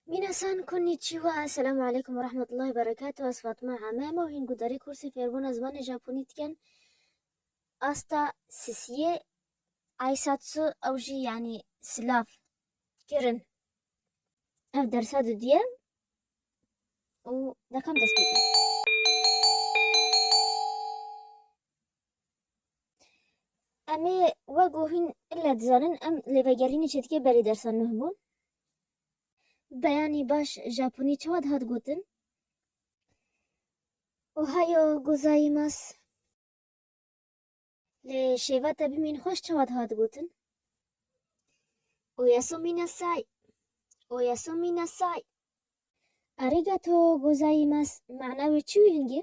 Minasan konnichiwa, Esselamu Aleykum ve Rahmetullahi ve Berekatuh, ez Fatma Ame, em ew hîn ku derê kursê fêrbûna zimanê Japonî dikin asta sisiyê Aisatsu ew jî yanî silav kirin ev dersa didiye û dekem dest pê kirin. Em ê wek û hûn ille dizanin em li vegerînê çêdikê berî dersa nûh bûn. Beyanî baş Japonî çawa dihat gotin? Ohayo gozaimas. Li şêva te bimîn xweş çawa dihat gotin? Oyasomî nasai. Oyasomî nasai. Arigato gozaimas mana wê çi wî hingê?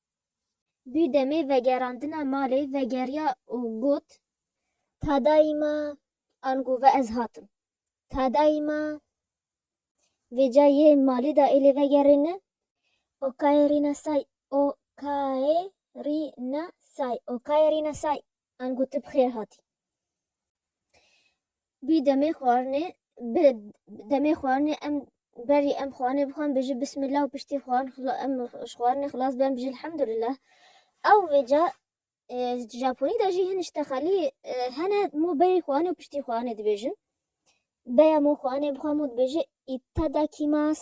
Dû demê vegerandina malê vegeriya û got, Ta dayî ma, ango ve ez hatim. Ta dayî ma vê ca yê malê de êlê vegerêne. Okaerîna say, okaerîna say, okaerîna say, ango tu bi xêr hatî. Bi demê xwarinê bi demê xwarinê em berî em xwarinê bi xwe em bêjin bismillah û piştî xwarin em ji xwarinê xilas bibin em bijin elhamdulillah. Ew vêca di Japonî de jî hin ji texelî hene mo berî xwarinê û piştî xwarinê dibêjin. Beya mo xwarinê bi xwe mo dibêje itadakimas.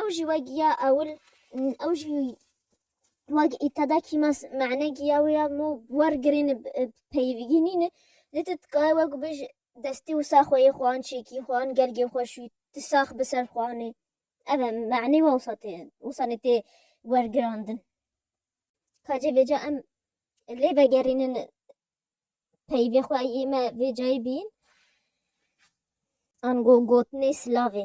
Ew jî wek ya ewil ew jî wek îtada kîmas mane giya wê ya mû wer girên peyivîgî nîne lê tu dikaye wek û bêj destê wisa xwe yê xwe an çêkî xwe an gelgê xwe şûyî tu sax bi ser xwe anê ev e manê we wisa tê wisa nê tê wergirandin ka cê vêca em lê vegerînin peyivê xwe yê me vê cayê bîyin an go gotinê silavê.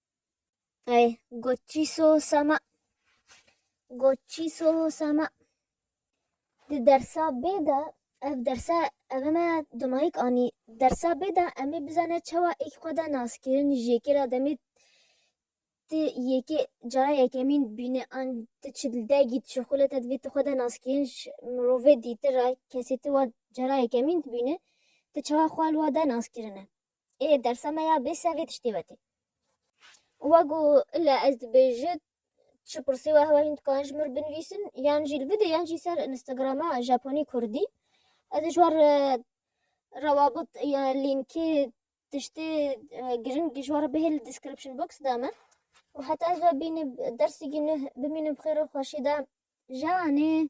Ay, goçîso sema, goçîso sema. Di dersa bê de, ev dersa eve me domayîk anî, dersa bê de em ê bizane çawa êk xwe de nas kirin ji yekê re demê ti yekê cara yekemîn dibîne an ti çi li dergî dişî xwile te divê tu xwe de nas kirin ji mirovê dîtir re kesê ti wa cara yekemîn dibîne ti çawa xwe li wa de nas kirine. Ê dersa me ya bê sevê tiştê wetê. Wa got, Illa ez dibêji çi pirsê we heye hîn dikarin ji mir binivîsin yan jî li bide yan jî ser Instagrama Japonî Kurdî. Ez ê ji wan re rawabit ya lînkê tiştê girîng ji wan re bihêl li description box de me. Û heta ez ve bînib dersîkî nuh bimînim bi xêr û xweşî de. Janê.